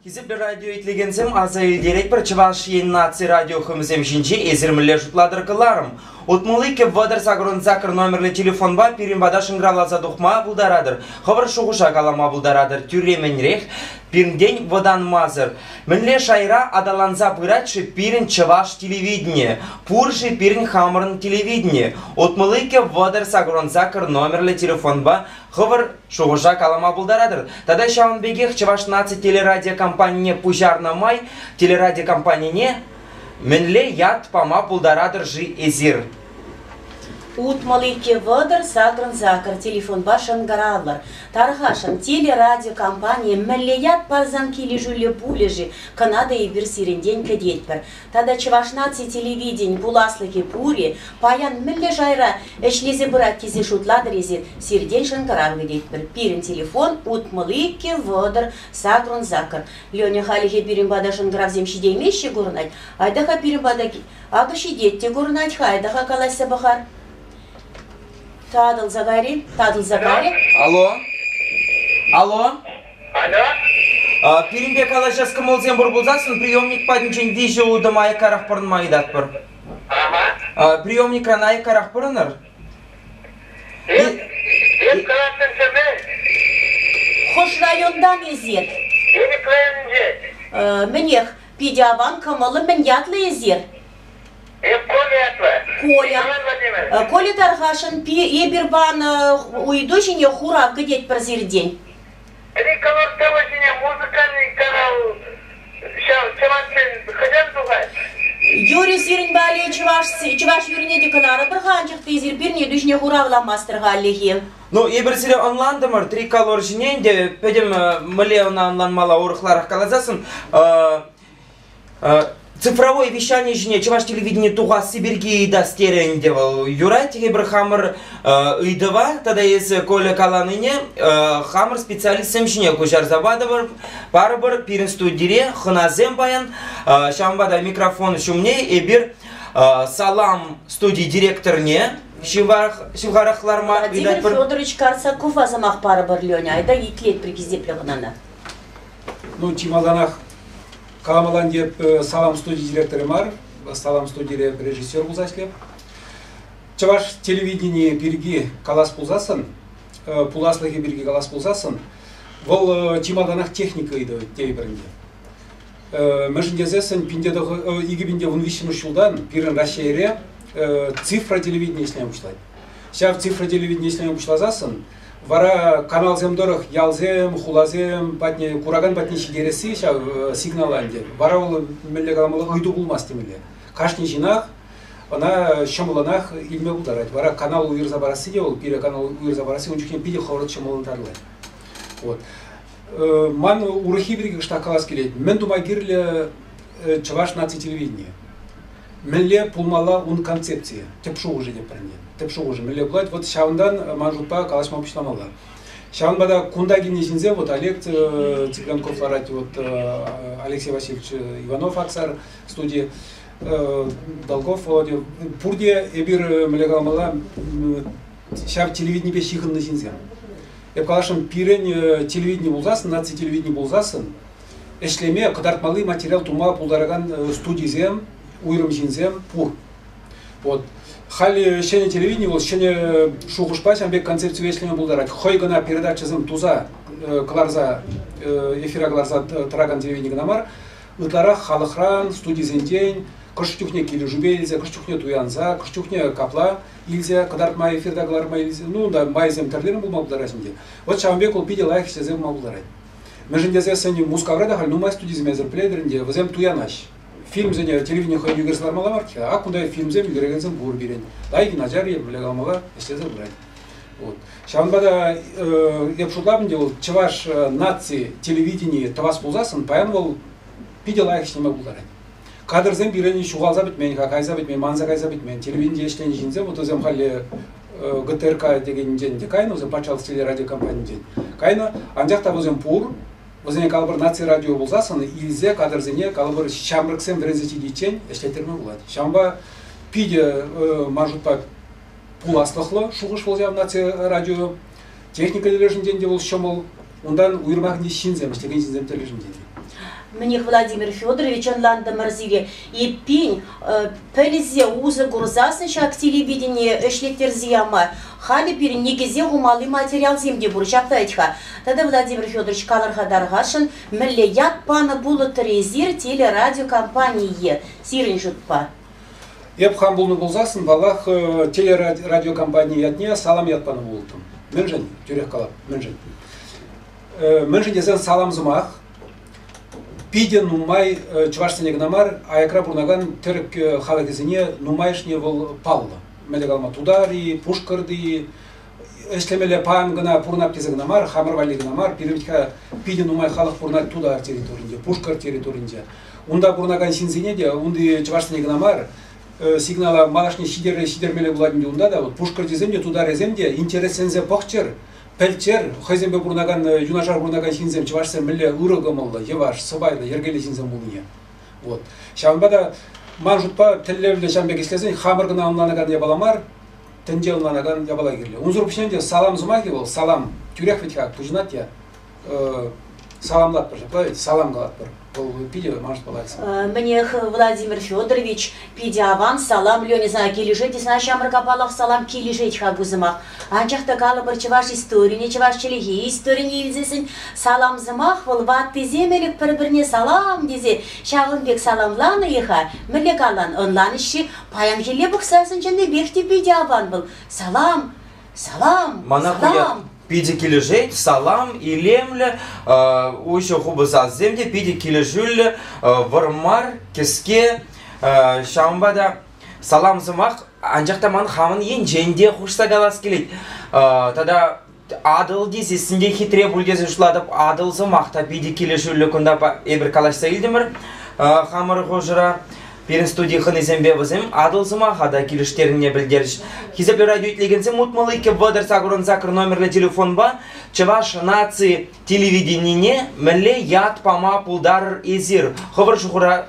Хисеплӗ радио итлекенсем, аса илтеретпӗр, Чӑваш Ен наци радиохӑмисем ҫинче эсир мӗнле шутлатӑр кӑларӑм? Утмӑлли кӗввӑтӑр сакӑрӑн сакӑр номерлӗ телефонпа пирӗн пата шӑнкӑравласа тухма пултаратӑр, хӑвӑр шухӑша калама пултаратӑр. Тӳрремӗнрех пирӗнтен вӑтанмасӑр. Мӗнле шайра аталанса пырать-ши пирӗн чӑваш телевиденийӗ? Пур-ши пирӗн хамӑрӑн телевидени? Утмӑлли кӗввӑтӑр сакӑрӑн сакӑр номерлӗ телефонпа хӑвӑр Шухӑша калама пултаратӑр тата ҫавӑн пекех Чӑваш наци телерадиокомпанине пуҫарнӑ май телерадиокомпанине мӗнле ят пама пултаратӑр-ши эсир? Утмӑл икӗ вӑтӑр сакӑрӑн-сакӑр телефонпа шӑнкӑравлӑр. Тархасшӑн, телерадиокомпание мӗнле ят парсан килӗшӳллӗ пулӗ-ши, кӑна та эпир сирӗнтен кӗтетпӗр. Тата Чӑваш наци телевиденин пуласлӑхӗ пур-и, паян мӗнле шайра ӗҫлесе пырать тесе шутлатӑр эсир, сиртен шӑнкӑрав кӗтетпӗр. Пирӗн телефон, утмӑл иккӗ, вӑтӑр, сакӑрӑн сакӑр. Леня, халӗхе пирӗн пата шӑнкӑравсем ҫитеймеҫҫӗ курӑнать. Айта-ха пирӗн пата, акӑ ҫитет те курӑнать-ха, айта-ха калаҫса пӑхар. Татӑлса кайри, татӑлса кайри. Алло? Алло? А, пирӗнпе калаҫас кӑмӑлсем пур пулсассӑн приемник патӗнчен виҫӗ утӑм аяккарах пӑрӑнма ыйтатпӑр. А, приемникран аяккарах пӑрӑнӑр. Эп калаттӑмсемӗ? Хӑш районтан эсир? Элӗк районӗнче. Э, мӗнех, питӗ аван кӑмӑллӑ. Мӗн ятлӑ эсир? Эп Коля ятлӑ. Коля. Э, Коля Тархашӑн эпир панӑ ыйту ҫине хурав кӗтетпӗр сиртен. Ӗри кӑнӑр сӑвӑ ҫине музыкальный канал ҫав чӑваш ен хӑҫан тухать? Юрий, сирӗн валли чӑваш, чӑваш юррине те кӑларӑпӑр-ха, анчах те эсир пирне тӳсне хуравламастӑр хальлӗхе. Ну, эпир сире ӑнлантӑмӑр, триколор ҫине ӗнтӗ пӗтӗм мӗнле ӑна ӑнланмалла урӑхларах каласассӑн. цифровое вещание ҫине чӑваш телевидени тухасси пирки ыйтас терӗ ӗнтӗ вӑл юрать эпир хамӑр ыйтӑва тата эсӗ Коля каланине хамӑр специалистсем ҫине куҫарса патӑмӑр парӑпӑр пирӗн студире хӑнасем паян ҫавӑнпа та микрофон ҫумне эпир салам студи директорне ҫывхарах ларма Владимир Федорович Карсакова сӑмах парӑпӑр Леня айта итлетпӗр хисеплӗ хӑнана Ну, чи малтанах каламалан теп э, салам студи директоры мар, салам студире режиссер пулса ӗҫлеп. Чӑваш телевиденийӗ пирки калас пулсассӑн, э, пуласлӑхӗ пирки калас пулсассӑн, вӑл э, чи малтанах техника ыйтӑ тейпӗрӗнте. Мӗншӗн тесессӗн икӗ пинте ун виҫҫӗмӗш ҫултан пирӗн Раҫҫейре цифра телевидения ӗҫлеме пуҫлать. Ҫав цифра телевидения ӗҫлеме пуҫласассӑн Вара каналсем тӑрӑх ялсем, хуласем патне куракан патне ҫитересси ҫав сигнала ӗнтӗ. Вара вӑл мӗнле каламалла ыйту пулмасть темелле. Кашни ҫынах ӑна ҫӑмӑллӑнах илме пултарать. Вара канал уйӑрса парасси те вӑл пире канал уйӑрса парасси ун чухне питӗ хӑвӑрт ҫӑмӑллӑн тарлать. Вот. Ман урӑххи пирки кӑштах калас килет. Мӗн тума кирлӗ Чӑваш наци телевиденийӗ? Мӗнле пулмалла ун концепцийӗ? Тӗп шухӑшӗ те пӗрне. Тӗп шухӑшӗ мӗнле пулать? Вот ҫавӑнтан ман шутпа калаҫма пуҫламалла. Ҫавӑнпа та кунта килнӗ ҫынсем, вот Олег Цыганков ларать, вот Алексей Васильевич Иванов Аксар студии, Долгов Володя, пурте эпир мӗнле каламалла, ҫар телевиденипе ҫыхӑннӑ ҫынсем. Эп каласшӑн, пирӗн э, телевидени пулсассӑн, наци телевидени пулсассӑн, ӗҫлеме, кӑтартмалли материал тума пултаракан э, студисем, уйрӑм ҫынсем пур. Вот. Халь ҫӗнӗ телевидени вӑл ҫӗнӗ шухӑшпа ҫавӑн пек концепцие ӗҫлеме пултарать. Хӑй кӑна передачӑсем туса э, кӑларса, эфира кӑларса тӑракан телевидени кӑна мар, ытларах халӑхран, студисенчен, хӑш чухне килӗшӳпе илсе, хӑш чухне туянса, хӑш чухне капла илсе кӑтартма эфирта кӑларма илсе ну та майсем тӗрлерен пулма пултарать ӗнтӗ вот ҫавӑн пек вӑл питӗ лайӑх ӗҫлесе пыма пултарать мӗншӗн тесен сӗнӗ Мускавра та халь нумай студисем эсир пӗлетӗр ӗнтӗ вӗсем туянаҫ фильмсене телевидение хӑйне ӳкерсе лармалла марччӗ ак кунта фильмсем ӳкерекенсем пур пирӗн лайки начар епле калмалла ӗҫлесе пырать вот ҫавӑнпа та э, эп шутлап ӗнтӗ вӑл чӑваш э, наци телевиденийӗ тӑвас пулсассӑн паян вӑл питӗ лайӑх ӗҫлеме пултарать Кадрсем пирӗн ҫухалса пӗтмен-ха, кайса пӗтмен, манса кайса пӗтмен. Телевинти ӗҫленӗ ҫынсем, вот вӗсем халӗ ГТРК текенӗнчен те кайнӑ, вӗсем патшалӑх телерадиокомпанинчен кайнӑ. Анчах та вӗсем пур, вӗсене калӑпӑр наци радио пулсассӑн илсе кадрсене калӑпӑр ҫамрӑксем вӗренсе ҫитиччен ӗҫлеттерме пулать. Ҫавӑнпа питӗ маршрутпа пуласлӑхлӑ шухӑш вӑл ҫав наци радио. Техника тӗлӗшӗнчен те вӑл ҫӑмӑл, унтан уйрӑмахне ҫынсем, ӗҫлекен ҫынсем тӗлӗшӗнчен те. Мӗнех, Владимир Федорович, ӑнлантӑмӑр сире, эппин, пӗлсе усӑ курсассӑн ҫак телевидение ӗҫлеттерсе яма халӗ пирӗн никӗсе хумалли материалсем те пур, ҫапла вӗт-ха. Тата, Владимир Федорович, калӑрха тархасшӑн, мӗнле ят панӑ пулӑттӑр эсир телерадиокомпание сирӗн шутпа? Эп хам пулнӑ пулсассӑн, паллах, телерадиокомпани ятне салам ят панӑ пултӑм. Мӗншӗн? Тӳрех калап, мӗншӗн? Мӗншӗн тесен салам сӑмах питӗ нумай чӑвашсене кӑна мар, аякра пурӑнакан тӗрӗк халӑхӗсене нумайӑшне вӑл паллӑ. Мӗнле калама, тутари, пушкӑрти, ӗҫлемелле паян кӑна пурӑнать тесен кӑна мар, хамӑр валли кӑна мар, пирӗн питӗ нумай халӑх пурӑнать Тутар территорийӗнче, Пушкӑрт территорийӗнче. Унта пурӑнакан ҫынсене те, унти чӑвашсене кӑна мар, сигнала малашне ҫитер, ҫитермелле пулать ӗнтӗ унта та. Вот пушкӑртсем те, тутарӗсем те интересленсе пӑхчӑр, пӗлччӗр, хӑйсемпе пурӑнакан, юнашар пурӑнакан ҫынсем чӑвашсем мӗнле ырӑ кӑмӑллӑ, йӑваш, сӑпайлӑ, йӗркеллӗ ҫынсем пулнине. Вот. Ҫавӑнпа та ман шутпа тӗллевлӗ ҫан пек ӗҫлесен хамӑр кӑна ӑнланакан япала мар, тӗнче ӑнланакан япала кирлӗ. Унсӑр пуҫне те салам сӑмахӗ вӑл салам тӳрех вӗт-ха пуҫӑнать те саламлатпӑр ҫапла ведь салам калатпӑр вӑл питӗ манӑш паллах. Мӗнех, Владимир Федорович, питӗ аван салам, Леня сана килӗшет те сана ҫамрӑк аппалах салам килӗшет-ха ку сӑмах. Анчах та калӑпӑр чӑваш историне, чӑваш чӗлхи историне илтсессӗн салам сӑмах вӑл ваттисем ӗлӗк пӗр-пӗрне салам тесе ҫавӑн пек саламланӑ-и-ха? Мӗнле калан, ӑнланӗҫ-ши? Паянхилле пӑхса сӗнченипех те питӗ аван вӑл. Салам! Салам! Мана салам! питӗ килӗшет, салам, илемлӗ, уҫӑ хупӑ сассем те питӗ килӗшӳллӗ Вӑрмар, Кӗске, ҫавӑнпа та салам сӑмах анчах та ман хамӑн енчен те хушса калас килет. Тата Атӑл тесессӗн те хитре пуль тесе шутлатӑп. Атӑл сӑмах та питӗ килӗшӳллӗ кунта. Эпир калаҫса илтӗмӗр хамӑр хушӑра. Пирӗн студи хӑнисемпе вӗсем Атӑл сӑмаха та килӗштернине пӗлтерӗҫ. Хисеплӗ радио итлекенсем, утмӑл иккӗ вӑтӑр сакӑрӑн сакӑр номерлӗ телефонпа Чӑваш наци телевиденине мӗнле ят пама пултарӑр эсир? Хӑвӑр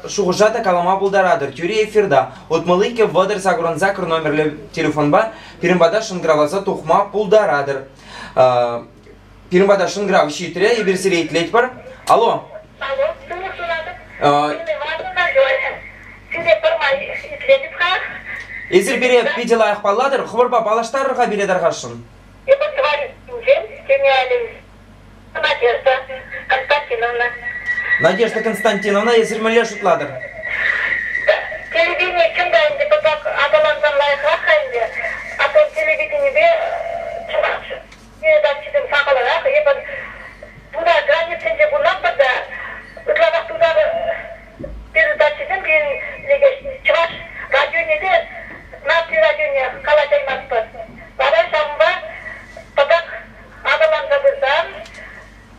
шухӑша та калама пултаратӑр. Тӳри эфирта утмӑл иккӗ вӑтӑр сакӑрӑн сакӑр номерлӗ телефонпа пирӗн пата шӑнкӑравласа тухма пултаратӑр. Пирӗн пата шӑнкӑрав ҫитрӗ, эпир сире итлетпӗр. Алло. Алло, тӳрех суратӑп. Сире пӗрмай итлетӗп-ха. Эсир пире питӗ лайӑх паллатӑр, хӑвӑрпа паллаштарӑр-ха пире тархасшӑн. Эпӗ тӑван ҫинчен ҫитеймен, Надежда Константиновна. Надежда Константиновна, эсир мӗнле шутлатӑр? Телевидение чӑн та ӗнтӗ пӑтак аталансан лайӑхрах-ха ӗнтӗ. А то телевиденипе чӑваш передачисем сахалрах. Эпир туда границинче пулатпӑр та ытларах туда передачисем пирӗн лекеҫ. Чӑваш радионе те наци радионе калаҫаймастпӑр. Вара ҫавӑнпа пӑтак Аталанса пырсан,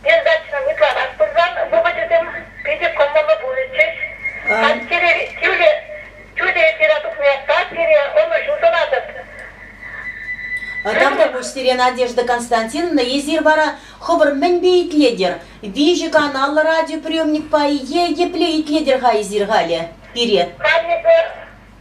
пьесдачӑна ытларах пырсан вӑхӑчӗсем питӗ кӑмӑллӑ пулӗччӗҫ. Пантьӑри тӳрӗ эфира тухнине пире ӑнӑҫу сунатӑп. Тав тупуҫ сире, Надежда Константиновна. Эсир вара хӑвӑр мӗнпе итлетӗр? Виҫӗ каналлӑ радиоприемникпа е епле итлетӗр-ха эсир халӗ пире? Каннипе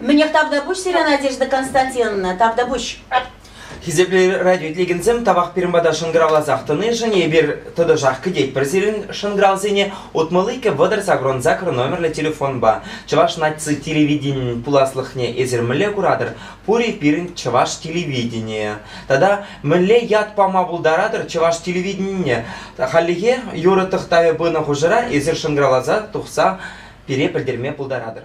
Мӗнех тавтапуҫ сире, Надежда Константиновна, тавтапуҫ. Хисеплӗ радиоилекенсем, тавах пирӗн пата шӑнкӑравласах тӑнишӗн. Эпир тӑтӑшах кӗтетпӗр сирӗн шӑнкӑравсене утмӑл-иккӗ вӑтӑр сакӑрӑн сакӑр номерлӗ телефонпа. Чӑваш наци телевиденийӗн пуласлӑхне эсир мӗнле куратӑр? Пур-и пирӗн чӑваш телевиденийӗ? Тата мӗнле ят пама пултаратӑр чӑваш телевиденине? Хальлӗхе юрӑ тӑхтавӗ пынӑ хушӑра эсир шӑнкӑравласа тухса пире пӗлтерме пултаратӑр.